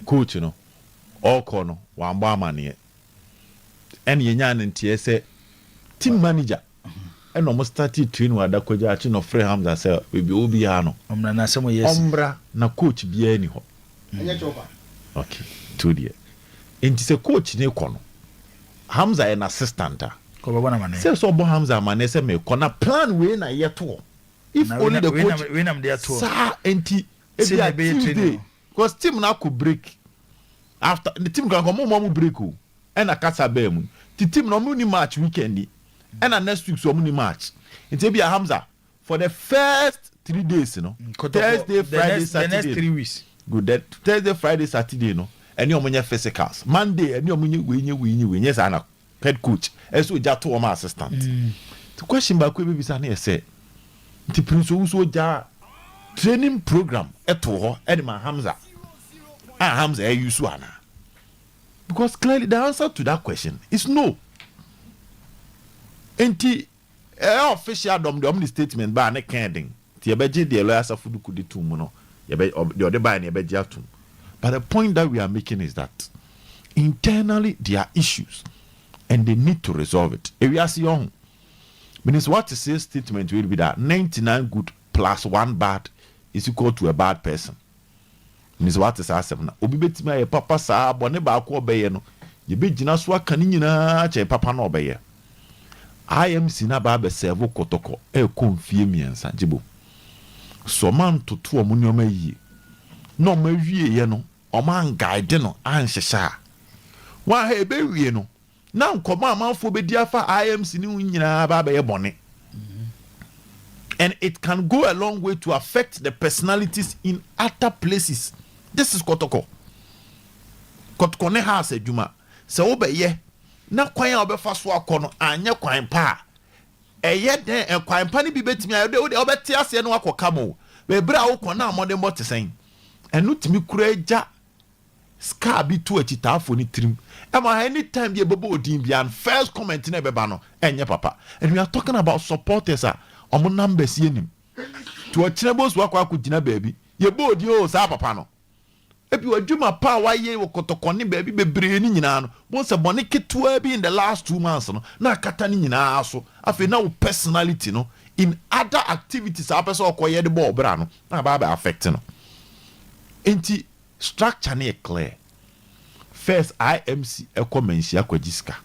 Coach no, ɔɔkɔ no wambɔ amaneɛ. Ɛna yɛnyaa no nteɛ sɛ team manager. Ɛna ɔmo startee training wɔ Adakwagya akyi na ɔfrɛɛ Hamza sɛ baabi ɔwɔ biaa no Ɔmmra na asɛm ɔyɛ asi. ɔmmra na coach biaa nni hɔ. Ok, to deɛ nti sɛ coach no rekɔ no, Hamza yɛ n'assistant a, Kɔ bɛbɔ no amaneɛ. sɛ sɛ ɔbɔ Hamza amaneɛ sɛ merekɔ na plan wei na yɛtoɔ. If Anaa wei only na the wei na coach wei na mede atoɔ. saa nti Ebi a team day because team no akɔ break after the team kanka ɔmo ma ɔmo break o ɛna kasa baa mu nti team no ɔmo ni match weekend yi ɛna next week so ɔmo ni match nti ebi a Hamza for the first three days no Thursday Friday Saturday good then Thursday Friday Saturday no ɛne ɔmo nyɛ physicals Monday ɛne ɔmo nyɛ wei nyɛ wei nyɛ wei nyɛ saa na head coach ɛsɛ ogya to wɔn assistant nti question baako yɛ bɛbisa no yɛ sɛ nti prince owu so ogya training program ɛto hɔ ɛde ma hamza a hamza ɛyɛ yusu ana because clearly the answer to that question is no nti Ɛyɛ official dɔm deɛ ɔmo de statement baa ne kaa den nti yɛbɛgye deɛ lɔya asafo duku de toom no yɛbɛ ɔb deɛ ɔde baeɛ no yɛbɛgye atom but the point that we are making is that internally there are issues and they need to resolve it ewiase yɛ ɔho menim sɛ woate see statement wei bi da ninety nine good plus one bad is equal to a bad person. Minim sɛ woate saa asɛm no. Obi betumi ayɛ papa saa, bɔne baako a ɔbɛyɛ no, yebegyina so aka ne nyinaa akyɛ papa no a ɔbɛyɛ. IMC no aba abɛsɛɛvo kɔtɔkɔ rekɔ mfie mmiɛnsa gye bom. So wɔantoto wɔn nneɛma yiye? Na wɔawieɛ no, wɔanguide no anhyehyɛ a, wɔn a ɛbɛwie no, na nkɔmmɔ a amanfoɔ bɛdi afa IMC ne ho nyinaa aba abɛyɛ bɔne and it can go a long way to affect the personalities in other places this is kɔtɔkɔ kɔtɔkɔ ne house adwuma sɛ wobɛyɛ na kwan a wobɛfa so akɔ no anyɛ kwan pa a ɛyɛ dɛn ɛkwan pa no bi bɛtumi ayɛ wode wobɛte aseɛ no akɔ ka mo bɛbrɛ a wokɔ na mmɔdenbɔ te sɛn ɛno tumi kura agya Scar bi to akyitaafo no tirim ma any time bi a ɛbɛbɔ odin biara no first comment no a ɛbɛba no ɛnyɛ papa and we are talking about supporters a wɔn numbers yɛ nim nti ɔkyena bi osu akɔ akɔ gyina baabi yɛbɔ odin oo saa papa no ebi ɔdwuma pa a wayɛ wɔ kɔtɔkɔne baabi bebree no nyinaa no bohu sɛ bɔne ketewa bi in the last two months no na akata no nyinaa so afei na wo personality no in other activities a wopɛ sɛ ɔkɔ yɛ de bɔ ɔbra no na aba abɛ affect no nti Structure no yɛ clear. First IMC kɔ Manhyia kɔgye sika,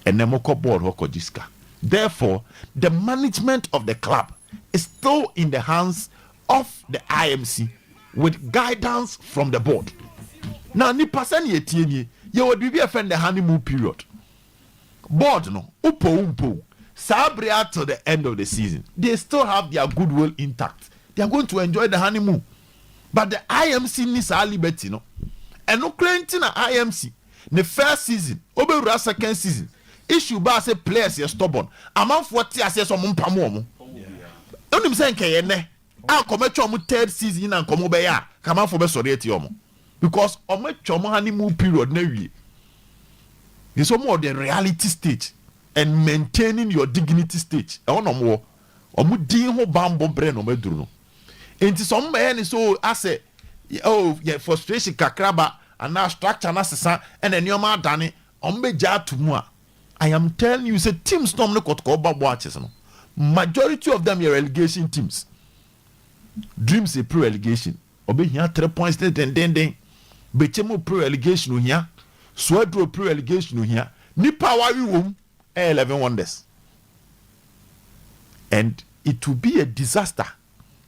ɛnɛ mokɔ board hɔ kɔgye sika. Therefore, the management of the club is still in the hands of the IMC with guidance from the board. Na nipa sɛnea ɛteɛ nie, yɛwɔ biribi a yɛfrɛ no the honeymoon period. board no wopɛ wo mpɛ wo saa bere ara till the end of the season they still have their good will intact they are going to enjoy the honey moon but the IMC nni saa liberty no ɛno koraa nti na IMC ne first season ɔbɛwura second season issue baa sɛ players yɛ stubborn amanfoɔ te aseɛ sɛ ɔmo mpam ɔmo wonim sɛ nkɛyɛ nɛ A nka wɔatwa wɔn third season yi na nka wɔbɛyɛ a nka amanfoɔ bɛsɔre atia wɔn because wɔatwa wɔn honeymoon period no awie. They say wɔn wɔ the reality stage and maintaining your dignity stage ɛhɔ na wɔn wɔ. Wɔn din ho bammɔ berɛ na wɔn aduru no. Nti sɛ wɔn bɛyɛ ne sɛ oh asɛ oh yɛ frustration kakraba anaa structure no asesa ɛna nneɛma adane wɔn bɛgya ato mu a I am telling you sɛ teams na wɔn ne kɔtɔkɔ ba boakyes no majority of them yɛ relegation teams dreams pre relegation ɔbɛhia three points ne dendenden bɛkyɛ mu pre relegation ohia suaduro pre relegation ohia nipa a wawe wɔm ɛyɛ eleven wonders and it will be a disaster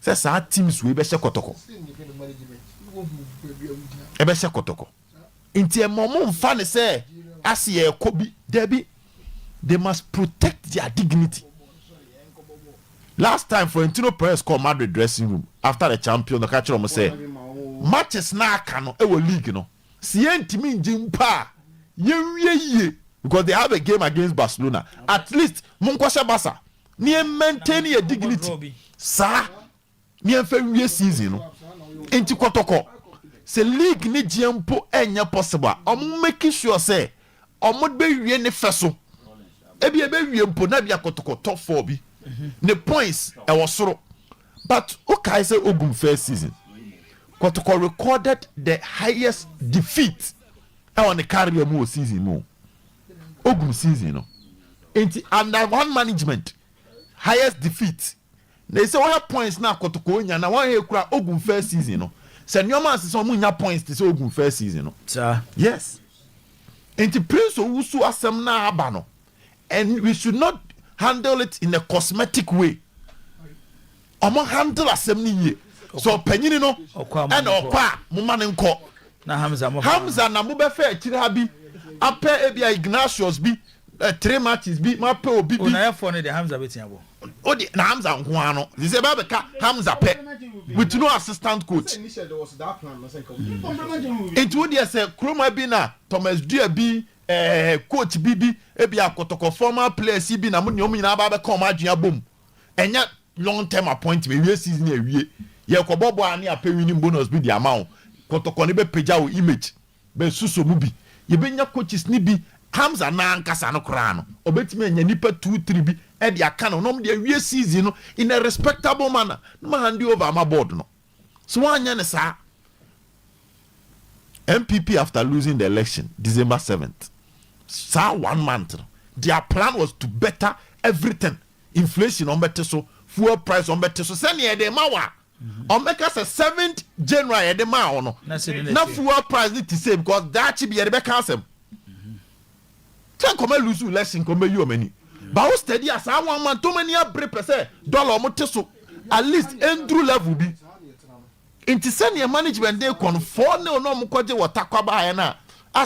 sɛ saa teams wei bɛhyɛ kɔtɔkɔ ɛbɛhyɛ kɔtɔkɔ Nti ɛma ɔmo nfa no sɛ ase yɛɛkɔ bi, dabi, they must protect their dignity. Last time Florentino Perez kɔɔ Madrid dressing room after the champions no ɔka kyerɛɛ ɔmo sɛ matches no a aka no ɛwɔ league no sɛ yɛntumi ngye mpo a yɛnwie yie because they have a game against Barcelona, at least monkɔhyɛ Barca na yɛn maintain yɛn dignity saa Miɛnfa nwie season no nti kɔtɔkɔ sɛ league ne gyeɛ mpo ɛnyɛ possible a ɔmo make sure sɛ ɔmo bɛwie ne fɛ so ebia ɛbɛwie mpo na ebia kɔtɔkɔ top four bi ne points ɛwɔ soro but wo kae sɛ ogum first season kɔtɔkɔ recorded the highest defeat ɛwɔ ne career mu wɔ season mu ogum season no nti under one management highest defeat. Na ese wɔhwɛ points na kotoko nya na wɔn hɛ kura ogun first season no sɛ nneɛma asesa wɔn nya points te sɛ ogun first season no yes nti prince owu so asɛm na aba no and we should not handle it in a cosmetic way wɔn handle asɛm no yie sɛ ɔpanyini no ɛna ɔkɔ a mo ma ne nkɔ hamza na mo bɛfɛ akyire ha bi apɛ ebi a ignatius bi. Ɛ three matches bi ma pɛ obi bi. O na yɛ fɔ no deɛ Hamza bɛ tia bɔ. O deɛ na Hamza nko ara no sisi ɛbɛ abɛ ka Hamza pɛ with no assistant coach nti o deɛ sɛ Kroma bi na Thomas Dua bi ɛɛ coach bi bi ebi akɔtɔkɔ former players yi bi na mo deɛ ɔmo nyinaa ba abɛ ka ɔmo adwene abɔ mu ɛnyɛ long term appointment ewie season awie yɛ kɔ bɔ bɔ a ne apɛ winning bonus bi de ama wo kɔtɔkɔ ne bɛ pagya wo image. Bɛ suso mu bi. Yɛ bɛ nya coaches no bi. Hamza nan ankasa no koraa no ɔbɛtumi anya nnipa two three bi de aka no na ɔmo de awie season no in a respectable manner na ma hande over ama board no. Sɛ w'anyɛ no saa NPP after losing the election December seventh saa one month no their plan was to better everything inflation ɔmo bɛte so, fuel price ɔmo bɛte so sɛnea yɛde rema wo a. Wɔbɛka sɛ seventh January yɛde maa wo no na fuel price no te sei because daakye bi yɛde bɛka asɛm. Sɛ nkɔmɛ lose election nkɔmɛ bɛyi wɔn ani. Ba wo steady a saa wɔn man tɔm ani abere pɛ sɛ dollar wɔn te so at least ɛnduru level bi. Nti sɛnea management de kɔ no four nil na wɔn kɔgye wɔ takwa baayɛ no a asɛ.